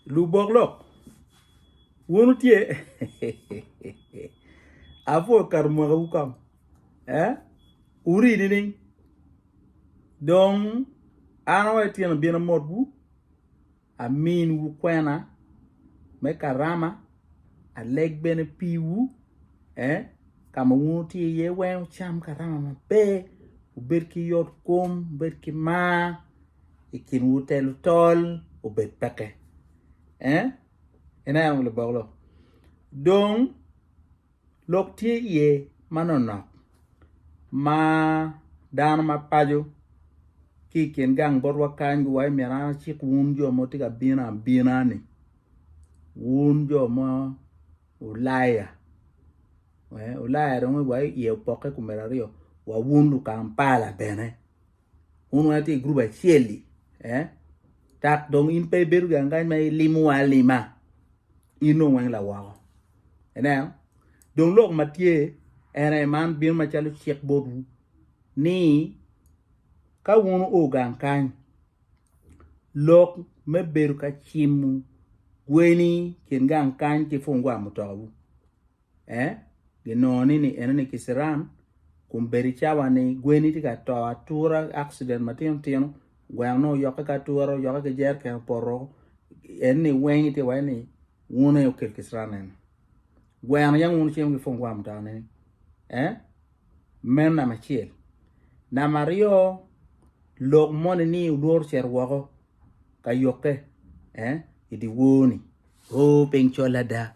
Lubok lok. Wun wutye apwa okato mwakawu kong eh wurii nining? Dong an wa ityeno abino amotwu aminwu kwena me karama aleg bene piwu eh ka ma wun wutye iye weng wucam karama maber wubed ki yotkom wubed ki mar. i kinwu te lutol obed peke. Eh? Ineno labok lo. Dong lok tye iye manonok ma dano ma paco ki i kin gang botwa kany giwaco myero an acik wun jo ma wutye ka bino abina-ni, wun jo ma Ulaya. Eh, Ulaya dong iwaco iye opokke i kom myero aryo, wa wun Lukampala bene. wun wa tye i gurup acel-li eh? dok dong in pe ibedo gangany ma ilimowa alima in dong weng lawoko ineno dong lok ma tye ene man bino macalo cik botwu ni ka wun o gang kany lok me bedo ka cimo gweni kin gang kany ki pungwa mutokawu eh ginongo ni ni enoni kiciran kun bedi cawa ni gweni tye ka to atura accident matino tino gweno nongo oyokke ki atura oyokke ki jereken opoto en ni weng itye iwaci ni wun aye wukel kiciran eni gweno yam wun wucimo ki pwong gwam mutane ni eh meno namba acel namba aryo lok moni ni olworo cito woko ka yokke eh idiwoni o piny col ada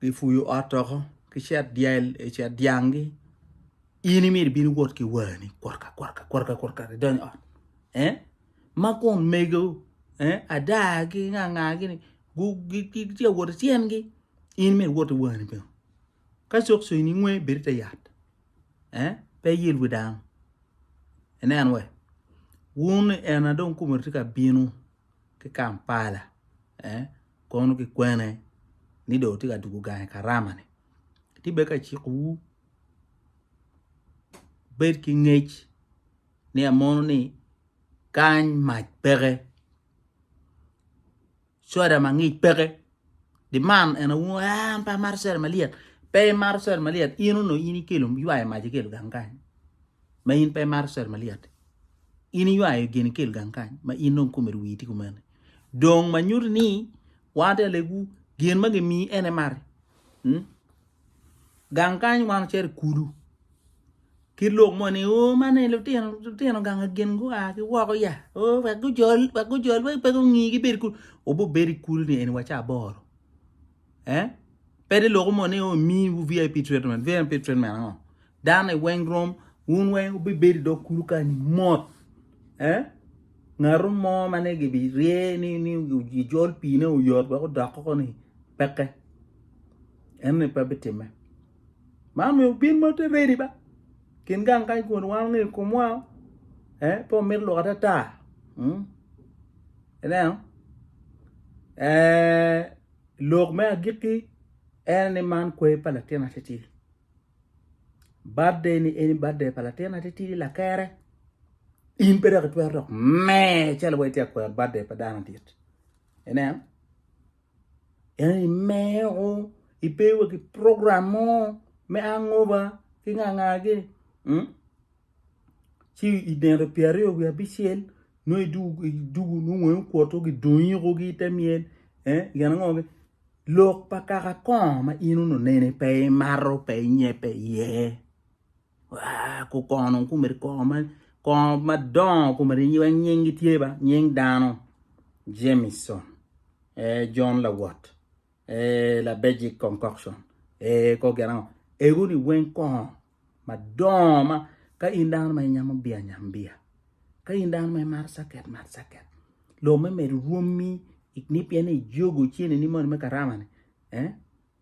Gipuyo ot doko ki cet dyel i e cet dyanggi in imyero ibin iwot ki wani kworka kworka kworka kworka idonyo ot eh? ma kun mego eh? ada ki nganga gini gitye awot ityengi in myero iwot ki wani bene ka cok cok ni ngwe bedi te yat eh? pe yel wi dano inen we wun ena dong kumere tye ka bino ki Kampala kono kikwene ni dong tye ka tugo gang i Karama ni atye bene ka ciko wu wubed ki ngec ni amono ni kany mac peke soda mangic peke Demand en aye wungo ah an pe amato cere malyet pe imato cere malyet in onongo in ikelo ywayo mac ikelo gang kany ma in pe imato cere malyet in iywayo gin ikel gang kany ma in dong kome rii wii tye kumene dong ma nyuto ni wan te alegwu gin ma gimiyi en imati. gang kany wan ocito i kulu ki lok mo ni o man eni lutino gang gin gua ki woko ya o wek gujol wek gujol wai pe gungi gibed i kulu wubibedo i kulu ni eni wa ca aboro eh pede loko mo ni o imiwu vip treatment vip treatment ango dano i weng rom wun weng wubibedo i dog kulu kany mot eh ngatu mo ma nongo gibirye ni ni gijol pine oyot wek odok koko ni peke. En ni pe bitimme. Ma omiyo obin ma te redi ba. Kin gang kany kun wan ongeyo komwa. Eh, pe omit lok atata. Hmm? Ineno? Eh, lok me agikki en ni man kwe pa latin atitidi. Birthday ni eni birthday pa latin atitidi lakere. In pe dok itwero dok me calo wa itye akwer birthday pa dano dit. Ineno? En imeo ibewa ki program mo me angoba ki nga nga gi mm ci i nino pyera aryo wiye abicel nongo idwogo idwogo nongo wangi okwoto gi dong iko ki ite myel eh gin ango gi lok pa kaka kongo ma in ononeni pe imato pe inye pe iye Kukono kumeri kongo madongo kumeri wek nyingi tye ba nying dano Jameson ee John Lawot ee Labejic Concoction ee kor gin ango ego ni weng kongo madongo ma ka in dano ma inyamo biya nyam biya ka in dano ma imaro caket mar caket lo me medo rwomi ni pien ni ijogo cene ni moni me karama ni ee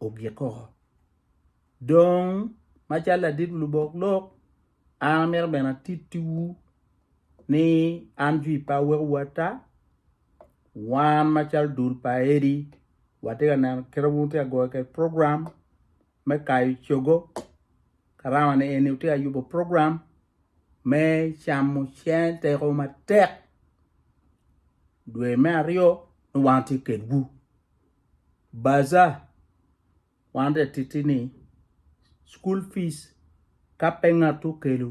ogik koko Dong, macalo ladit lubok lok, an amito bene atittiwu ni an jwi pa awekowu ata, wan macalo dul pa Eddy watye ka neno kit ma wun wutye ka goyo kwede program me kayo cogo, karama ni eni wutye ka yubo program me camo cen teko matek dwe me aryo ni wan watye kedwu. Baza. wan tek titi ni school fees ka pe ngat okelo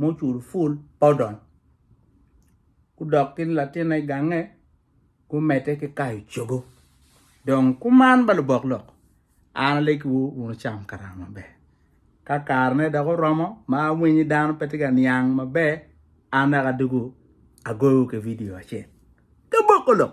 mucul full pe odony gudok ki latinne gange gumedde ki kayo cogo dong kuman ba lubok lok an alekiwu wun wucam karama maber ka karene dok oromo ma awinyo dano pe tye ka niang maber an dok adwogo agoyo ki vidio acel ki boko lok.